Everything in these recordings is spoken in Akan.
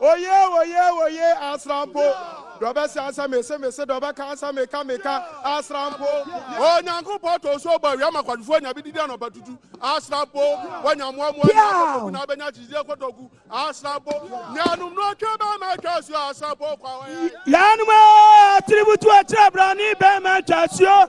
Oye oye oye asrampo dɔ bɛse ansa mese mese dɔ bɛka ansa meka meka asrampo oh nyankopɔn to nso bɔ awia ma kwadufoɔ anya bi didi anɔpa tutu asrampo wanya mmoamoa nyɛ akɔtɔku na abɛnya kyikyidie kɔtɔku asrampo nyanom no atwa bɛma atwa asuo asrampo kwa wɔyɛ yɛnom atiributu akyerɛ brane bɛma atwa asuo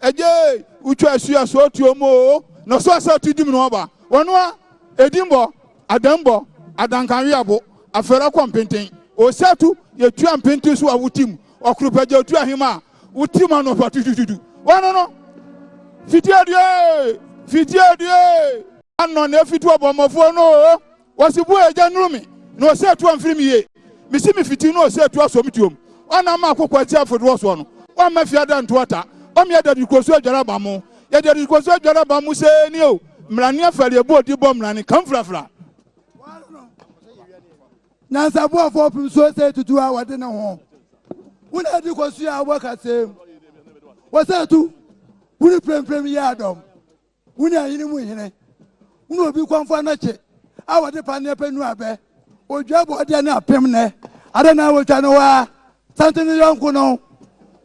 Agye wotwa asu a so ɔtuo mu o na so asa ɔtu dim no ɔba wɔn a ɛdi mbɔ adan mbɔ adankanwe abo afɛra kɔ mpenten o sɛ tu yɛ tua mpenten so a wotim ɔkoro pɛgya otu ahema a wotim anɔpa tutututu wɔn no fiti adue fiti adue anɔ na ɛfiti ɔbɔmmɔfoɔ no o. Ɔse bua agya nuru me na ɔse atu amfiri me yie Mese me fiti na ɔse atu asɔ me tuom Ɔnam ma akokɔ ati afodoɔ soɔ no Ɔmma fie ada nto ata Ɔmea dadi kɔ so adware aba mo Yɛ dadi kɔ so adware aba mo Sɛɛ ni o Mmrane afari ɛbɔ odi bɔ mmrane Ka mfrafra Nyansaboafoɔ pem so sɛ tutu a wɔde ne ho Wo na adi kɔ so yɛ awɔ kaseɛ mu Ɔse atu wuri premprem yɛ adɔm Wo ne ahene mu hene. Wo ne obi kɔnfo anɔkye a wɔde paneɛ pɛ nu abɛ. Odwa bɔɔdeɛ ne apem nɛ ada na wɔtwa no hɔ a sante no yɔnko no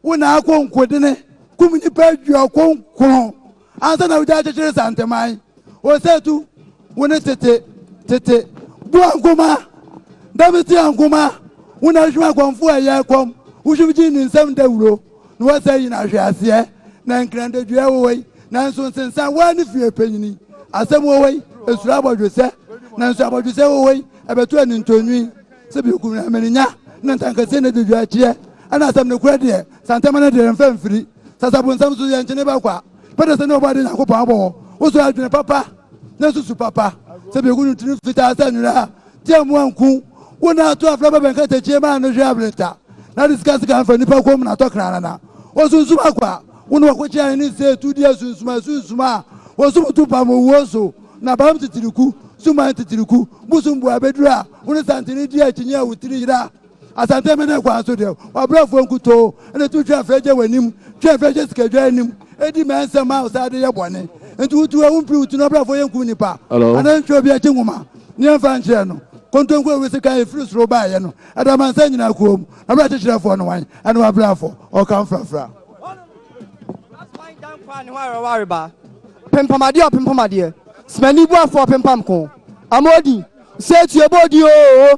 wo na akɔ nkodene kum nnipa aduɔkron nkron ansa na wogya kyekyere santeman. Osatu wo ne tete tete bu ankoma dɛm te ankoma wo na ahwim akɔnfo a ɛyɛ kɔm wo hwim gye ne nsam dawuro. na wɔsan nyin ahweaseɛ, na nkrantadua wɔ hɔ yi, nanso nsensan waa ne fie panyini. Asɛm wɔ hɔ yi, esuro abɔdwesɛ, nanso abɔdwesɛ wɔ hɔ yi, ɛbɛto anintɔnwi. Sɛ biako bi na mani nya, na ntankasee na ɛdi dwaakyeɛ, ɛna asɛm no korɛ deɛ, santama no deɛ yɛmfa mfiri. Sasabonsam nso, yɛnkye ne bɛkwa. Pɛ dɛ sɛ ne Ɔbɔadeɛ Nyankopɔn abɔ wo, wosɔ adwene papa, na susu papa. Sɛ biako no tiri fitaa sɛ nwera a, Tia mu anku wo na ato afra bɛbɛn katakyie ma ano hwɛ ableta na de sika sika mfa nipa kɔn mu na tɔ krana na wɔsunsum akɔ a wo na wɔkɔkye ahene nsɛ etu di asunsum asunsum a wɔsum to pam owuo so na bam titiriku suman titiriku bosom bua bɛduru a wo ne santene di akyinnye a wo tiri yera Asantehene ne kwan so deɛ, w'abrɛfoɔ nkutoo na ɛtumi twe afrɛ gye w'anim, twe afrɛ gye sikadwa anim, di mmɛ nsɛm ma wo saa de yɛ bɔne. Enti wo tu a, wompiri wo ti no, w'abrɛfoɔ yɛnkum nnipa, anaa yɛntwerɛ obi akyi nwoma na yɛmfa nkyerɛ no. Kontonku a wobɛsi kan a ɛfiri soro baeɛ no, ɛde amansan nyinaa koom. Abrɛ akyekyerɛfoɔ no wan? Ɛne w'abrɛfoɔ. Ɔka mfrafra. Asoman gya nkwa a ne ho awerɛhow areba, pempam adeɛ ɔpempam adeɛ, Smanni boafoɔ pempam ko, Amoodin, Nsa tue bɔ odin oo!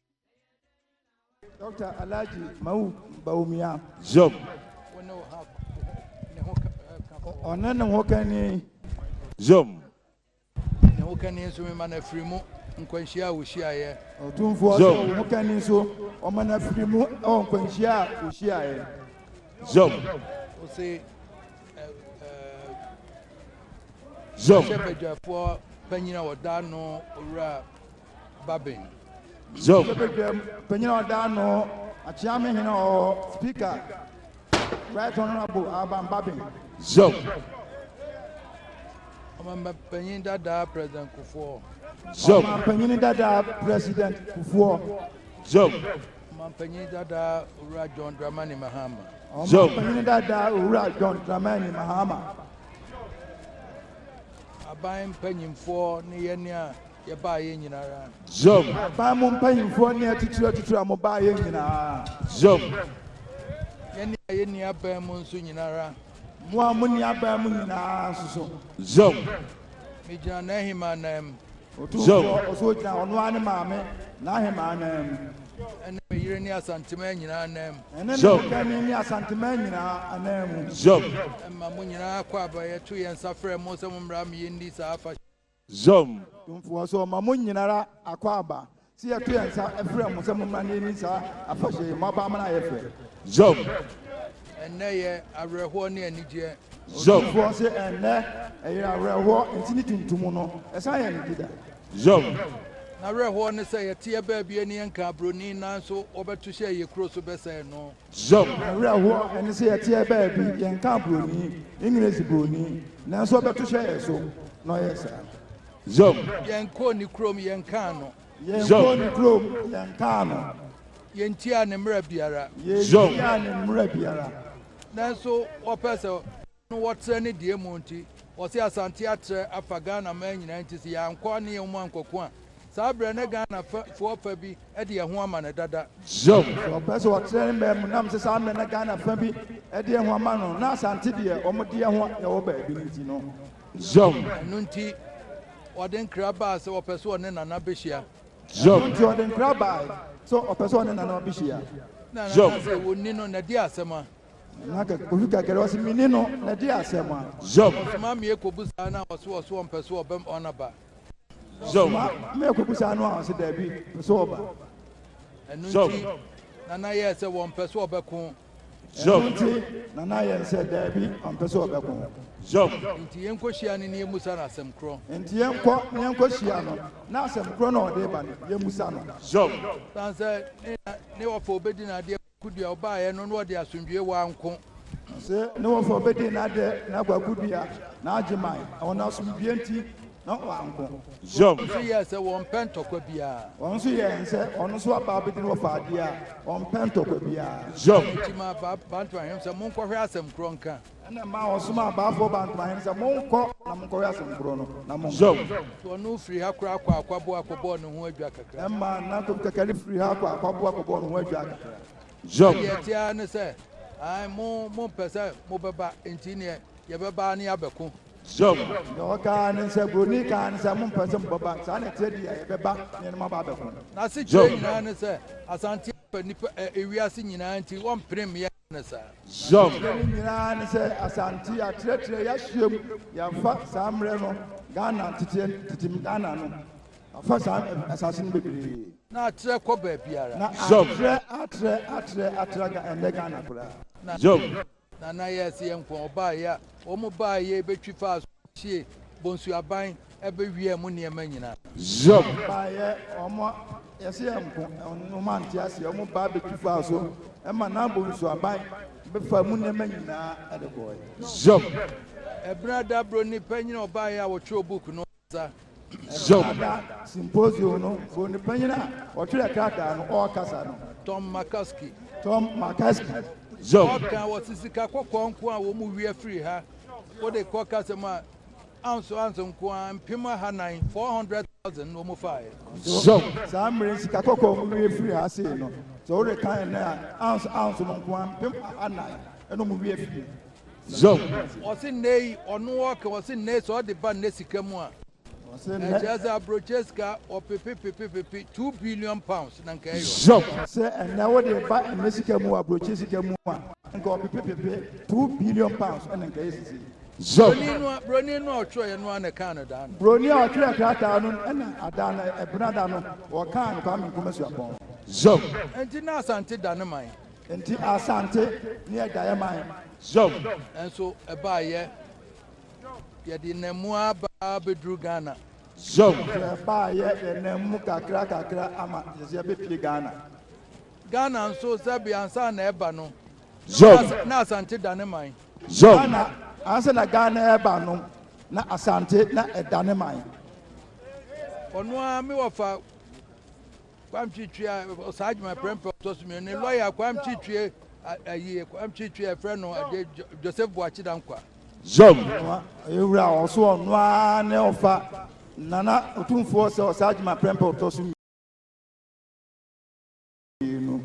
Dɔkta Alhaji Mawu Bawumia. Zom. Ɔne ne ho kani. Zom. Ne ho kani nso mema no afiri mu nkwanhyia a wɔhyiaeɛ. Ɔtumfoɔ sɛ wo ho kani nso ɔma no afiri mu wɔ nkwanhyia a wɔhyiaeɛ. Zom. Ɔse Zom. Hyɛ badwafoɔ panyin a ɔda no owura Babin. Zone. Ɔbɛbɛ dwam panyin a ɔda ano akyea me hene ɔwɔ speaker right honorable Alban Babin. Zone. Ɔmamba panyin dadaa president Kufuor. Zone. Ɔmamba panyin dadaa president Kufuor. Zone. Ɔmamba panyin dadaa owura John Dramani Mahama. Zone. Ɔmamba panyin dadaa owura John Dramani Mahama. Aban mpanyinfoɔ ne yɛn a Yɛbaeɛ nyinara. Jom. Aban mu mpanyimfoɔ ne atitire atitire a mobaeɛ nyinaa. Jom. Yɛne a yɛnni aban mu nso nyinara. Mo a monni aban mu nyinaa nso so. Jom. Megyina n'ahemaa nan mu. Otumfoɔ, ɔso ogyina ɔno ara ne maame n'ahemaa nan mu. Ɛne me yere ne Asantemaa nyinaa nan mu. Ɛne me hokani ne Asantemaa nyinaa anan mu. Jom. Ɛma mo nyinaa kɔ aba yɛto yɛn nsa frɛ mo sɛ mommra me yɛnni saa afahyɛ. Zom. Tomfoɔ, sɛ ɔma mo nyinara akwaaba, sɛ yɛto yɛn nsa frɛ mo sɛ mommra na yɛnni saa afahyɛ yi, moaba ama no ayɛ fɛ. Zom. Ɛnnɛ yɛ awerɛhoɔ ne anigyeɛ. Zom. Otumfoɔ se, Ɛnnɛ ɛyɛ awerɛhoɔ, ntini tuntum no, ɛsan yɛ anigye-da. Zom. N'awerɛhoɔ ne sɛ yɛteɛ baabi ani yɛnka aburoni nanso wɔbɛto hyɛɛ yɛn kuro so bɛsɛe no. Zam! Awerɛhoɔ ɛne sɛ yɛteɛ baabi yɛnkaa broni, English broni, nanso ɔbɛto hyɛ yɛn so na ɔyɛɛ saa. Zam! Yɛnkɔɔ ne kurom yɛnkaa no. Yɛnkɔɔ ne kurom yɛnkaa no. Yɛntiaa ne mmara biara. Yɛntiaa ne mmara biara. Nanso ɔpɛɛ sɛ. no wɔtrɛ ne deɛ mu nti wɔse Asante atrɛ afa Ghana man nyinaa nti se yɛankɔ a ne yɛn mu ankɔko a saa berɛ ne Ghana fɛ foɔ fa bi de yɛn ho ama no dada. Sɛ ɔpɛ se ɔtrɛ ne man mu nam se saa mmerɛ na Ghana fa bi de yɛn ho ama no na Asante deɛ wɔn de yɛn ho na ɛwɔ baabi no nti no. Ɛno nti ɔde nkra baa se ɔpɛ se ɔne Nana behyia. Ɛno nti ɔde nkra baa se ɔpɛ se ɔne Nana behyia. Nana ka se wɔnni no na di asɛm a. Na kɛ ofi kɛkɛrɛ ɔse me ni no na di asɛm a. Zɔb. Soma me ekobusa no a ɔse ɔse ɔmpɛ sɛ ɔbɛm ɔna ba. Zɔb. Soma me ekobusa no a ɔse daabi mpɛ sɛ ɔba. Ɛno Zɔb. nti Nana yɛɛ sɛ wɔmpɛ sɛ ɔbɛko. Ɛno Zɔb. nti Nana yɛɛ sɛ daabi ɔmpɛ sɛ ɔbɛko. Zɔb. Nti yɛnkohyia no na yɛmusa no asɛm korɔ. Nti yɛnkɔ na yɛnkɔhyia no na asɛm korɔ no a ɔde ba no yɛmusa no. Zɔb. San sɛ ne na ne ɔfa obedi n'adeɛ. Kudua a ɔbaeɛ no na ɔde asomdwoeɛ waa nko. Se ne wɔfa obedie na adɛ na abɔ akudua na agye man ɛwɔ no asomdwoeɛ nti na ɔwaa nko. Wɔn nso yɛɛ sɛ wɔmpɛ ntɔkwa biara. Wɔn nso yɛɛ nsɛ ɔno nso aba abedi na wɔfa adeɛ a wɔmpɛ ntɔkwa biara. Wɔn nti maa ba, Bantu ahenem sɛ monkɔhwɛ asɛm korɔ nka. Ɛnna mmaa wɔn somaa abaafoɔ baa ntomahen sɛ, Monkɔ na monkɔwɛ asɛm koro no, na monka. Zɔn. Wɔn no firii ha koraa kɔɔ Akwaboa kɔbɔɔ ne ho adwua kakra. Ɛmmaa nnantom kɛkɛ no firii ha kɔɔ Akwaboa kɔbɔɔ ne ho adwua kakra. Zɔn. Deɛ ɛteɛ ara ne sɛ, aane, mo, mompɛ sɛ mobɛba, enti neɛ yɛbɛba ara ne yɛabɛko. Zɔn. Deɛ ɔka ara ne sɛ, Buroni ka ara ne sɛ, mompɛ sɛ mobɛba, saa na ɛteɛ deɛ yɛbɛba ne yɛne mo aba abɛko. N'asekyerɛ nyinaa ne sɛ, Asante Afa nnipa, ɛ, ewiase nyinaa nti, wɔmpene mmea no saa. Zɔm. Yɛn adeɛ no nyinaa ne sɛ Asante yɛatrɛtrɛ, yɛahyia mu, yɛafa saa mmerɛ no Ghana teteɛ no, tetem Ghana no, afa saa asase no bebree. Na atrɛ kɔ baabiara. Na atrɛ, atrɛ, atrɛ, atra Ga, ɛnnɛ Ghana koraa. Na, Zɔm. Na na yɛse yɛnko a wɔbaeɛ a, wɔn baeɛ bɛtwi faa so, bɛhyiee Bonsu Aban Ɛbɛwia mo nneɛma nyinaa. Hiob. Baeɛ, wɔn a yɛse yɛnko wɔn ante aseɛ, wɔn baa bɛtu faa so ma Nabal nsuaban bɛfaa mu nneɛma nyinaa de kɔeɛ. Hiob. Ɛberɛ a dabro nnipa nyinaa wɔbaeɛ a wɔtwerɛɛ book no ɔkasa. Hiob. Ɛberɛ a da symposium no bro nnipa nyinaa a wɔtwerɛɛ krataa no ɔkasa no. Tom McCaskey. Tom McCaskey. Hiob. Ɔka, wɔse sika kɔkɔɔ nko a wɔwia firi ha, wode kɔ kasa mu a. Ounce ounce nko ara, mpem ahanan, 400,000, na wɔfaaɛ. So saa mmerɛ yi sika kɔkɔɔ mu wie firii ha sei no? Sɛ worekan ɛnnɛ a, ounce ounce no nko ara, mpem ahanan, ɛna wɔn wie firii ha. So. Wɔse nnɛ yi, ɔno ɔɔka, wɔse nnɛ yi, sɛ ɔde ba nnɛ sika mu a, ɛkyerɛ sɛ aburokyire sika, wɔpepe pepe pepe, two billion pounds na nka ɛyɔ. So. Sɛ ɛnnɛ wode reba nnɛ sika mu wɔ aburokyire sika mu a, nka wɔpepe pepe, two billion pounds ɛna nka ɛyɛ seesei. Zeph. Broni no a broni no a ɔtwerɛeɛ no ara na ɛkaa no daa no. Broni a ɔtwerɛɛ krataa no na ada no ɛbena da no wɔkaa no Kwame Nkrumah suapɔn. Zeph. Enti na Asante da ne man. Enti Asante ne ɛdaeɛ man. Zeph. Nanso ɛbaeɛ yɛde nam mu ara baa bɛduru Ghana. Zeph. Nanso ɛbaeɛ yɛnam mu kakra kakra ama yɛbɛpie Ghana. Ghana nso sɛbe ansa na ɛba no Zom. Na Asante da ne man. Zom. Ghana ansa na Ghana ɛreba no na Asante na ɛda ne man. Ɔno ara me wɔfa Kwame Twitwi a ɔsaa adwuma prɛmpɛ ɔtɔ so mmienu ne lɔya Kwame Twitwi ayi Kwame Twitwi a ɛfrɛ no ade Joseph Boakye Dankwa. Zom. Ewura ɔso ɔno ara ne ɔfa Nana Otumfoɔ sɛ ɔsaa adwuma prɛmpɛ ɔtɔ so mmienu. pii no,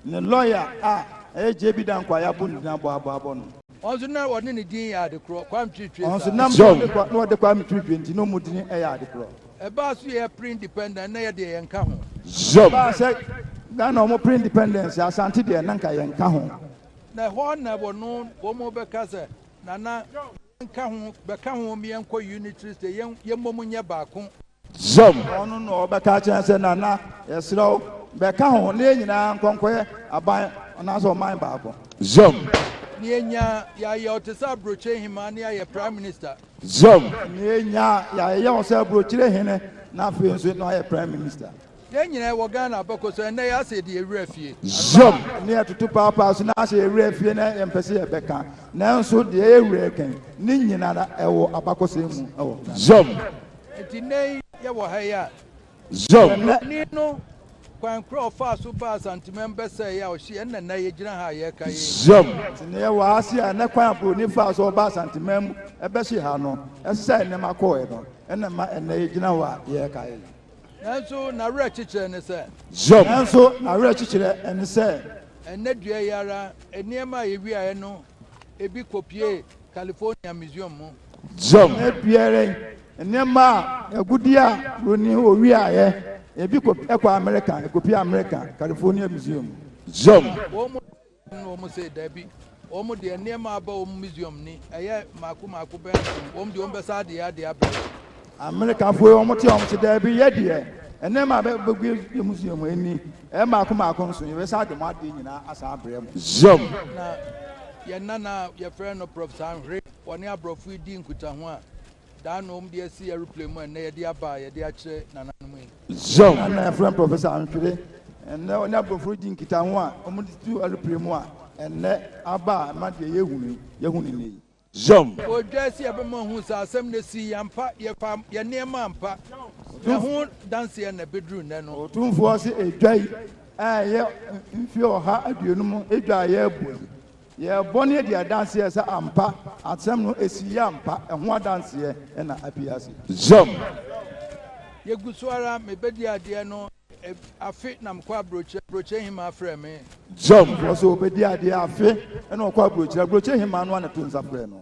ne lɔya a ɛyɛ JB Dankwah a yɛabɔ ne din abɔ abɔ abɔ no. Wɔn nso na wɔne ne din yɛ ade korɔ, Kwame Twetwe saa. Wɔn nso nam sɛ na wɔde Kwame Twetwe nti na wɔn din yɛ ade korɔ. Ɛbaa so yɛ pre independent na yɛ deɛ yɛn ka ho. Ɛbaa sɛ Ghana wɔn pre independence Asante deɛ na nka yɛn ka ho. Na ɛhɔ na wɔn wɔn bɛka sɛ Nana nka ho bɛka ho yɛnkɔ unitary state yɛn yɛmmom nyɛ baako. Zam. Ɔno na ɔbɛka akyerɛ sɛ Nana yɛsrɛ wo bɛka ho na yɛn nyinaa nkɔ nkɔyɛ aban anaasɛ ɔman baako. Zam. Na yɛnya yɛayɛ wo te sɛ aburokyire hemaa na yɛayɛ prime minister. Zam. Na yɛnya yɛayɛ wo sɛ aburokyire hene na afei nso na woayɛ prime minister. Yɛn nyinaa wɔ Ghana abako so ɛnnɛ yɛase yɛde yɛn werɛ afie. Zion ne atutu paapaa so na asɛ yɛn werɛ afie na yɛmpɛ sɛ yɛbɛka nanso deɛ yɛn werɛ rekɛn ne nyinara ɛwɔ abakɔsɛm mu ɛwɔ Ghana. Zion. Enti nnɛ yi yɛwɔ ha yi a. Zion. Ɔhene no kwan korɔ a ɔfaa so baa Asantemɛm bɛsɛɛ yɛ a ɔhye yɛn na nnɛ yɛgyina ha a yɛreka yei. Zion. Enti nnɛ yɛwɔ ha ase a nnɛ kwan a Buroni faa so ɔbaa Asantemɛm mu ɛbɛhye ha no ɛsɛe nneɛma kɔɔɛ no ɛna ɛma ɛnnɛ yɛgyina hɔ a yɛreka yei. Nanso n'awerɛkyekyerɛ ne sɛ. Hiob. Nanso n'awerɛkyekyerɛ ne sɛ. Ɛnnɛ dua yi ara, nneɛma a ewiaeɛ no bi kɔpuee California Museum mu. Hiob. Ɛnnɛ dua ara yi, nneɛma a agudeɛ a wɔnni hɔ wiaeɛ, ebi kɔ, ɛkɔ Amerika, ɛkɔpuee Amerika California Museum mu. Hiob. Na wɔn se, Dabi, wɔn deɛ nneɛma a aba wɔn museum ni, ɛyɛ mmaako mmaako bɛn so, wɔn deɛ wɔbɛsan de yɛn adeɛ abrɛ wɔn. Amerikafoɔ yi, wɔte wɔn se, Dabi, yɛ deɛ nneɛma a ɛba yɛn museum mu ni, ɛyɛ mmaako mmaako nso, yɛbɛsan de mo adeɛ nyinaa asan abrɛ mo. Zom. Na yɛn nana a yɛfrɛ no Prof. Sanhwere, wɔne aborɔfo yi dii nkutaho a. Daa na wɔn de asi aeroplane mu a nnɛ yɛde aba a yɛde akyerɛ nananom yi. Zone. Saa na yɛfrɛ Professor Antwede nnɛ ɔne aborɔfo redi nkitaho a wɔn de tu aeroplane mu a ɛnnɛ aba a ɛma deɛ yɛrehu no yi, yɛhu no nnɛ yi. Zone. Odwɛɛ sɛ yɛbɛma wɔahu saa asɛm no sii yi ampa, yɛfaa yɛn nneɛma ampa, na ɛho danseɛ na ɛbɛduru nnɛ no. Otumfoɔ se edwa yi a ɛyɛ mfeɛ ɔha aduonum edwa a yɛrebɔ yi, Yɛɛ bɔne adi adanseɛ sɛ ampa asɛm no si yɛ ampa, ɛho adanseɛ na apue ase. Zam. Yɛgu so ara mebɛdi adeɛ no afe na mekɔ aburokyire, aburokyire hemaa frɛɛ me. Zam. Ɔfo so ɔbɛdi adeɛ afe na ɔkɔ aburokyire, aburokyire hemaa no ara na to nsa frɛɛ no.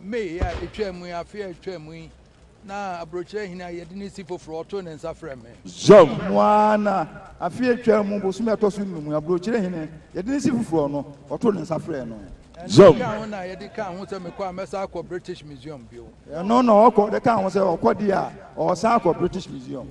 May a etwaa mu yi, afe a etwaa mu yi, na Aburokyerɛ Hene a yɛde no si foforo, ɔtoo ne nsa frɛɛ me. Zhou. No ara na afe a etwaa mu bosome a ɛtɔ so nnum, Aburokyerɛ Hene, yɛde no si foforo no, ɔtoo ne nsa frɛɛ no. Ɛno kaa ho na yɛde kaa ho sɛ mekɔ a, mɛsan akɔ British Museum bio. Ɛno na ɔkɔ de kaa ho sɛ ɔkɔ deɛ a, ɔresan akɔ British Museum.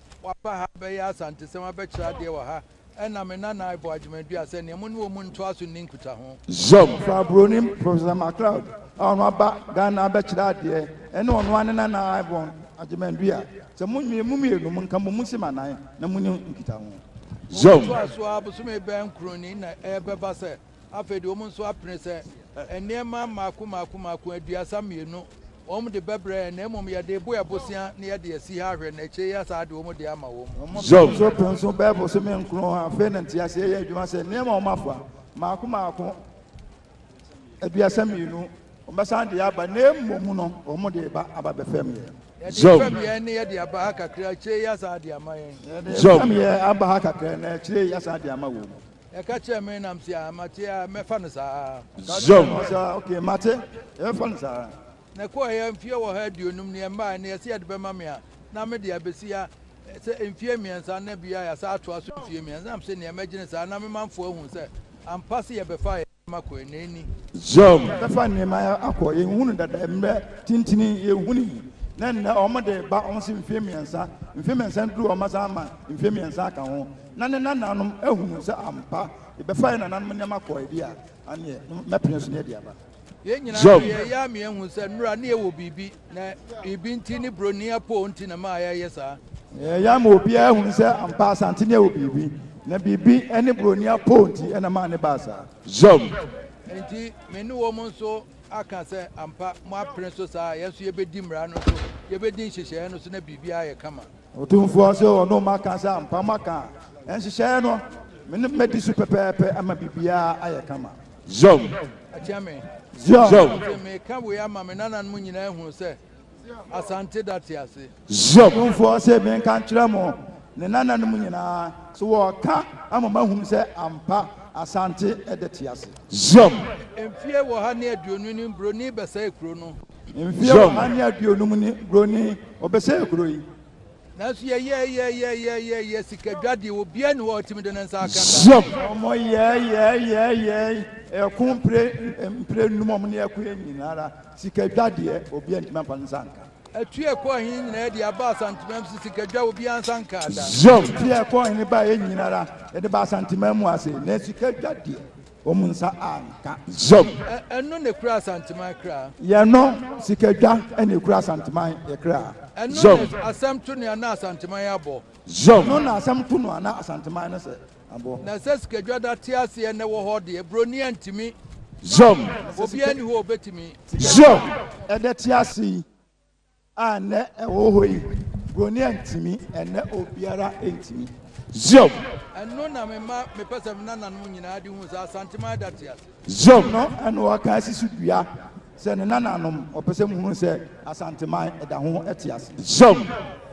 Waba ha abɛyɛ Asantesɛm abɛkyerɛ adeɛ wɔ ha ɛna me nana Iboh Agyeman-Duah sɛ neɛ mo ne wɔn ntoa so nni nkutaho. Zam. Fra Buroni Professor McLeod a ɔno aba Ghana abɛkyerɛ adeɛ ɛne ɔno ara ne nana Iboh Agyeman-Duah sɛ mo nwie mo mmienu mo nka mo mu nsɛm anan na mo nni nkutaho. Zam. Wɔbɛtoa so ara bosome bɛn kron ni na ɛbɛba sɛ Afei de wɔn nso apene sɛ nneɛma mmaako mmaako mmaako aduasa mmienu wɔn de bɛbrɛ yɛn, na mmom yɛde rebo yɛn bosea na yɛde asi ha ahwɛ, na akyire yi yɛasan ade wɔn de ama wɔn. Wɔn nso pene so bɛyɛ bosome nkron. Afei na nteaseɛ yɛ adwuma sɛ nneɛma a wɔafa mmaako mmaako aduasa mmienu wɔbɛsan de aba, na mmom no wɔn de reba aba bɛfɛm yɛn. Yɛde fɛm yɛn na yɛde aba ha kakra, akyire yi yɛasan ade ama yɛn. Yɛde fɛm yɛn aba ha kakra, na akyire yi yɛasan ade ama wɔn. Ɛka kyerɛɛ me nam se a, mate a, mɛfa no saa. Ɛka kyerɛɛ me sɛ, okay, mate, yɛbɛfa no saa. Na ɛkɔɔeɛ mfeɛ ɔha aduonum ne ɛmmaeɛ na yɛse yɛde bɛma me a, na me deɛ abɛsi ha sɛ mfeɛ mmiɛnsa na bia yɛasan atoa so mfeɛ mmiɛnsa. Nam se neɛ mɛgyene saa na me manfoɔ ahu sɛ ampa se yɛbɛfa yɛn nneɛma kɔɛ na ɛnni. Yɛbɛfa nneɛma akɔ, yɛnhunu dada mmerɛ tentini yɛhunii na nnɛ wɔn de ba wɔn se mfeɛ mmiɛnsa, mfeɛ mmiɛnsa duru wɔn asan ama mfeɛ mmiɛnsa aka ho. na ne nananom ahunu sɛ ampa yɛbɛfa yɛn nananom nneɛma kɔe de a, ɛnneɛ mɛpene so na yɛadi aba. Yɛn nyinaa de, ɛyɛ a yɛahu sɛ nnora ne yɛwɔ biribi, na biribi nti ne buroni apoo nti na ɛma yɛyɛ saa. Ɛyɛ a ma obiara hunu sɛ ampa Asante ne yɛwɔ biribi, na biribi ne buroni apoo nti na ɛma ne baa saa. Zom. Enti me ne wɔn nso aka sɛ ampa moapene so saa a, yɛn nso yɛbɛdi mmara no so, yɛbɛdi nhyehyɛeɛ no so na biribiara ayɛ kama. Otumfoɔ se ɔno maka sɛ ampa maka nhyehyɛeɛ no, me ne madi so pɛpɛɛpɛ ama biribiara ayɛ kama. Zion. Akyea me. Zion. Zion. Ɔse meka wei ama me nananom nyinaa ahunu sɛ Asante da te ase. Zion. Otumfoɔ se menka nkyerɛ mo, ne nananom nyinaa, so wɔka ama mo ahunu sɛ ampa Asante da te ase. Zion. Mfie ɔha ne aduonu ni buroni bɛsɛe kuro no. Mfeɛ ɔha ne aduonum ni kuro ni wɔbɛsɛɛ kuro yi. Nanso yɛyɛɛyɛɛyɛɛyɛɛyɛɛ sikadwadeɛ obiara nni hɔ a ɔtumi de ne nsa aka da. Zion. Wɔyɛɛyɛɛyɛɛyɛɛyɛɛ ɛko mpire mpire nnum wɔn ne ɛko yɛ nyina ara sikadwadeɛ obiara ntumi amfa ne nsa anka. Ɛtu ɛkɔ ɔhene nyinaa de aba Asanteman mu so sikadwa obiara nsa nkaa da. Zion. Ɛtu ɛkɔ ɔhene baeɛ nyina ara yɛde ba Asanteman mu ase na sikadwadeɛ. wɔn nsa anka. Zom. Ɛno na ekura Asanteman kra. Yɛnnɔ sika dwa na ekura Asanteman yɛ kra. Ɛno na asɛm to nea na Asanteman abɔ. Zom. Ɛno na asɛm to noa na Asanteman no sɛ abɔ. Na sɛ sikadwa da te aseɛ na ɛwɔ hɔ deɛ, buroni antumi. Zom. Obiara nni hɔ a obetumi. Zom. Ɛda te ase yi, A nnɛ ɛwɔ hɔ yi, buroni antumi, ɛnnɛ obiara ntumi. Zion. Ɛno na mema mepɛ sɛ me nananom nyinaa de hu sɛ Asanteman da te ase. Zion. Ɛno na wɔka asi so dua sɛ ne nananom, wɔpɛ sɛ mohunu sɛ Asanteman da ho te ase. Zion.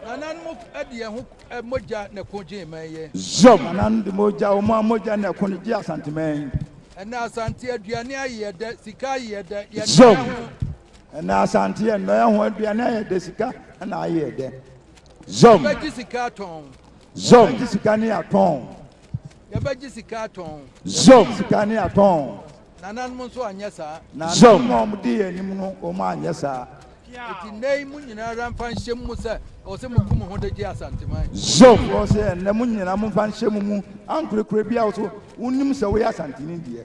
Nananom de yɛn ho mogya na ɛko gyee man yi. Zion. Nananom de mogya, wɔn ara mogya na ɛko gyee Asanteman yi. Ɛnnɛ Asante aduane ayeyɛ dɛ, sika ayeyɛ dɛ, yɛn nana ho. Ɛnɛ Asante yɛ nnɔɛ ho aduane a yɛde sika na ayɛ dɛ. Zom. Yɛbɛgye sika atɔn. Zom. Yɛbɛgye sika ne atɔn. Yɛbɛgye sika atɔn. Zom. Yɛbɛgye sika ne atɔn. Nananom nso anyɛ saa. Nananom a wɔdi yɛn anim no, wɔn anyɛ saa. Eti nnɛ yi mo nyinaa ara mfa nhyɛ mu sɛ ɛwɔ sɛ moku mo ho de gye Asanteman. Zom. Ɛwɔ sɛ ɛnɛ mo nyinaa momfa nhyɛ mo mu ankorɛkorɛ biara so wonim sɛ woyɛ Asanteni deɛ.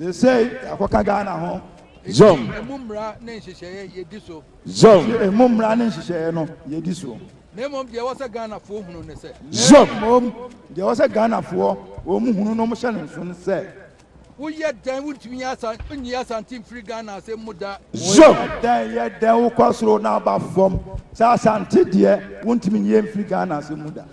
Seesei yɛakɔka Ghana ho. Enti emu mmara ne nhyehyɛeɛ yɛdi so. Enti emu mmara ne nhyehyɛeɛ no yɛdi so. Na mmom deɛ ɛwɔ sɛ Ghanafoɔ hunu ne sɛ. Na mmom deɛ ɛwɔ sɛ Ghanafoɔ wɔn hunu na wɔhyɛ no nso ne sɛ. Woyɛ dɛn wontumi nyɛ asa nyi Asante mfiri Ghana asɛm mu da. Woyɛ dɛn yɛ dɛn wokɔ soro na aba fam sɛ Asante deɛ wontumi nyɛ mfiri Ghana asɛm mu da.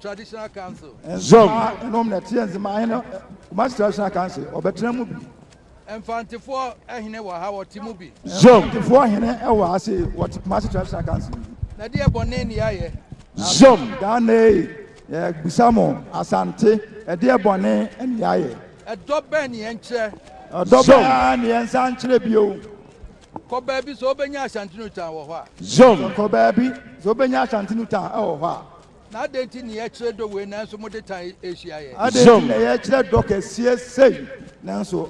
traditional council. Nzema ɛnom na ɛteɛ Nzema ahene Kumasi traditional council ɔbɛtena mu bi. Mfantefoɔ ahene wɔ ha wɔte mu bi. Mfantefoɔ ahene ɛwɔ ha se wɔte Kumasi traditional council mu bi. Na deɛ bɔne ne yɛayɛ. Zom Ghanee yɛbisa mo Asante ɛdeɛ bɔne ne yɛayɛ. Ɛdɔ bɛn ne yɛnkyerɛ. Ɛdɔ bɛn ara ne yɛnsa nkyerɛ bio. Kɔ baabi sɛ wobɛnya Ashanti Nutan wɔ hɔ a. Zom kɔ baabi sɛ wobɛnya Ashanti Nutan ɛwɔ hɔ a. Na adɛn nti na yɛkyerɛ dɔ wei nanso mode tan rehyia yɛn? Adɛn nti na yɛkyerɛ dɔ kɛseɛ sei nanso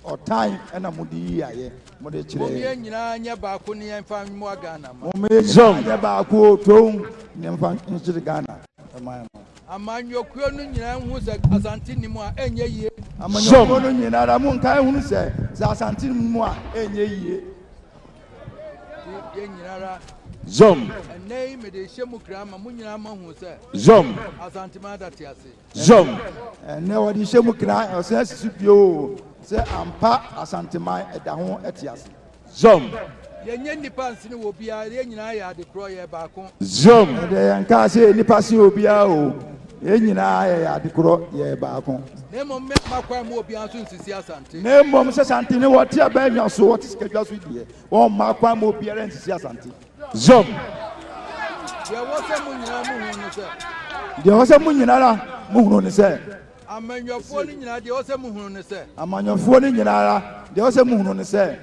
ɔtan na mode yi ayɛ mode kyerɛ yɛn? Mom yɛn nyinaa nyɛ baako ne yɛmfa mmoa Ghana man. Mom yɛn nyinaa nyɛ baako o toom ne yɛmfa nkyere Ghana man no. Amanyɔkuo no nyinaa nhunu sɛ Asante nni mu a ɛnyɛ yie. Amanyɔkuo no nyinara monkae nhunu sɛ sɛ Asante nni mu a ɛnyɛ yie. Zom. Zom. Zom. Ɛnɛ wɔde hyɛ mu kra ɔsɛ asisi bio sɛ ampa asanteman ɛda ho ɛte ase. Zom. Yɛnyɛ nnipa nsene wɔ obiara yɛn nyinaa yɛ adekorɔ yɛ baako. Zom. Ɛdɛ yɛn kaa sɛ yɛ nnipa sen obiara o. Yɛn nyinaa yɛyɛ ade korɔ, yɛyɛ baako. Na mmom me mma kwan mu obiara nso nsisi Asante. Na mmom sɛ Asante ne wɔte abɛɛdwa so, wɔte sikadwa so deɛ, wɔmma kwan mu obiara nsisi Asante. Zom. Deɛ ɛwɔ sɛ mo nyinaa mo hunu ne sɛ. Deɛ ɛwɔ sɛ mo nyinara mo hunu ne sɛ. Amanyɔfoɔ no nyinaa deɛ ɛwɔ sɛ mo hunu ne sɛ. Amanyɔfoɔ no nyinara deɛ ɛwɔ sɛ mo hunu ne sɛ.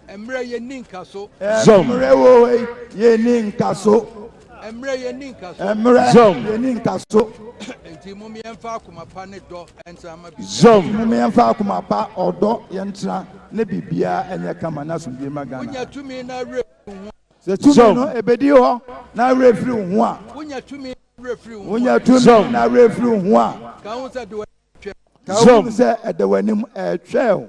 Ɛmmerɛ yɛnni nkaso. Ɛmmerɛ o ei yɛnni nkaso. Ɛmmerɛ yɛnni nkaso. Ɛmmerɛ yɛnni nkaso. Enti mom yɛmfa akoma pa ne dɔ ntra ma biribiara. Enti mom yɛmfa akoma pa, ɔdɔ yɛntra na biribiara ɛnyɛ kama na asomdwie ma Ghana. Wonya tumi na werɛ firi wo ho a. Sɛ tumi no ɛbɛdi hɔ na werɛ firi wo ho a. Wonya tumi na werɛ firi wo ho a. Wonya tumi na werɛ firi wo ho a. Ka ho sɛ ɛda w'anim retwɛn. Ka ho sɛ ɛda w'anim retwɛn.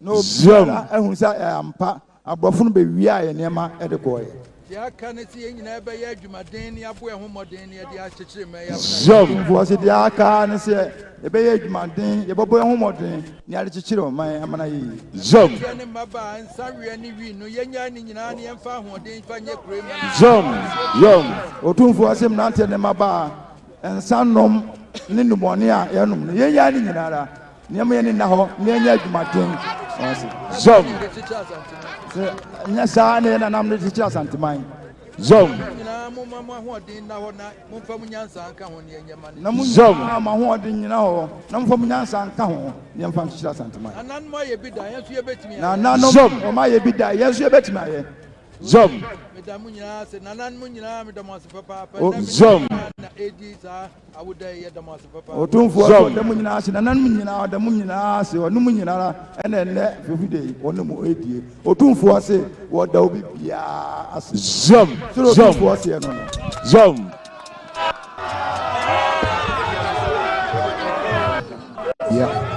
na obiara ahu sɛ ɛyɛ ampa, aborɔfo no bewiaa yɛn nneɛma de kɔeɛ. Deɛ aka ne sɛ yɛn nyinaa bɛyɛ adwumaden ne aboa ho mmɔden na yɛde akyekyere mmaa yi afena yɛn. Atumfoɔ se deɛ aka ne sɛ yɛbɛyɛ adwumaden, yɛbɛbɔ yɛn ho mmɔden na yɛade kyekyere ɔman yi amena yiye. Mmeranteɛ ne mmabaa, nsaweɛ ne wii no, yɛnnyae ne nyinaa na yɛmfa ahoɔden mfa nyɛ kuro yi ma no yie. Asie bio. Otumfoɔ se mmeranteɛ ne mmabaa, nsa nom ne nnubɔne a yɛnom no, yɛnnyae ne nyinaa ara. Nneɛma yɛ ne nna hɔ na yɛnyɛ adwumaden. Zɔm. Sɛ nyɛ saa na yɛ nanam no kyekyere Asanteman. Zɔm. Na mo nyinaa mo ahoɔden nyina hɔ na momfa mo nyansa nka ho na yɛmfa nkyekyere Asanteman. Na ananom ayɛ bi da yɛn nso yɛbɛtumi ayɛ. Na ananom wɔn ayɛ bi da yɛn nso yɛbɛtumi ayɛ. Zɔm. Meda mo nyinaa ase. Nananom nyinaa meda mo ase papaapa. Zɔm. Na ɛdi saa. Otumfoɔ sɛ ɔda mu nyinaa ase, nananom nyinaa ɔda mu nyinaa ase, ɔne mo nyinara ɛna ɛnnɛ firi da yi ɔne mo ɛredie. Otumfoɔ se wɔda obi biara ase. Zam! Sɛdeɛ Zam! Otumfoɔ seɛ no no. Zam! Yeah.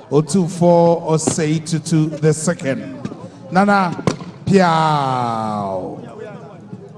Otumfoɔ Osei Tutu the Second, Nana Piaw.